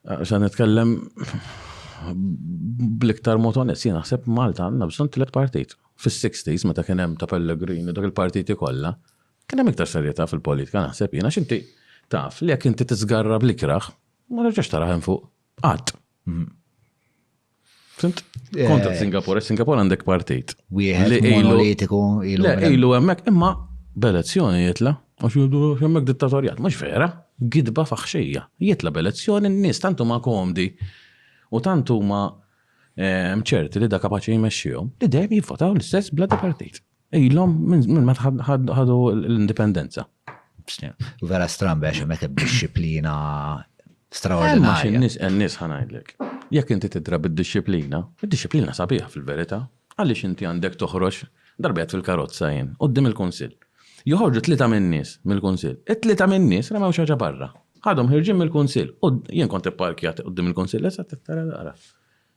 Xa nitkellem bliktar motonet, jien naħseb Malta għandna bżonn tliet partit. Fis-60s meta kien hemm ta' Pellegrini dak il-partiti kollha, kien hemm iktar serjetà fil-politika naħseb jiena x'inti taf li jekk inti tiżgarra bl-ikrah, ma terġax tara hemm fuq. Qatt. Fint? Eh, Kontra Singapore, Singapore għandek partit. Wieħed monolitiku ilu. Le, ilu hemmhekk imma b'elezzjoni jitla, għax jgħidu hemmhekk dittatorjat, mhux vera, gidba faħxija. Jitla b'elezzjoni n-nies tantu ma komdi u tantu ma eh, ċerti li da kapaċi jmexxihom li dejjem jivvotaw l-istess bladi partit. Ilhom minn ma ħadu l-indipendenza. Vera strambe għax hemmhekk hemm disċiplina straordinarja. Nis nis ħanajdlek. Jekk inti tidra bid-disċiplina, id-disċiplina sabiħa fil-verità, għaliex inti għandek toħroġ darbet fil-karozza jien, qoddim il-kunsill. Joħorġu tlita min-nies mill-kunsill. It-tlita min-nies remew xaġa barra. Ħadhom ħirġin mill-kunsill. Jien kont ipparkjat qoddim il-kunsill, issa tittara daqra.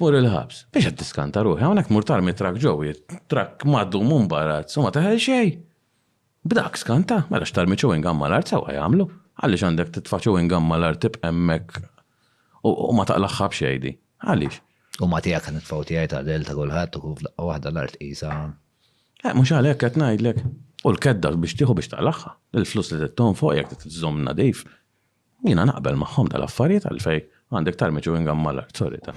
Tmur il-ħabs. Biex qed tiskanta ruħi, hawnhekk tmur tarmi trakk ġewwi, trakk magħdum u mbarazzz u ma teħel xejn! B'dak skanta, mela x'tarmi chewing gum mal-art sewwa jagħmlu. Għaliex għandek titfa' chewing gum mal-art tibqa' hemmhekk u ma taqlagħha b'xejn di? Għaliex? U ma tiegħek qed nitfgħu tiegħi ta' Adele ta' kulħadd u hu f'daqqa waħda l-art qisha. Eh, mhux għalhekk qed ngħidlek. U l-kedda biex tieħu biex taqlagħha. Il-flus li trid tonfoq jekk trid iżżomm nadif. Jiena naqbel magħhom dal-affarijiet għalfej għandek tarmi chewing gum mal-art, sorry ta.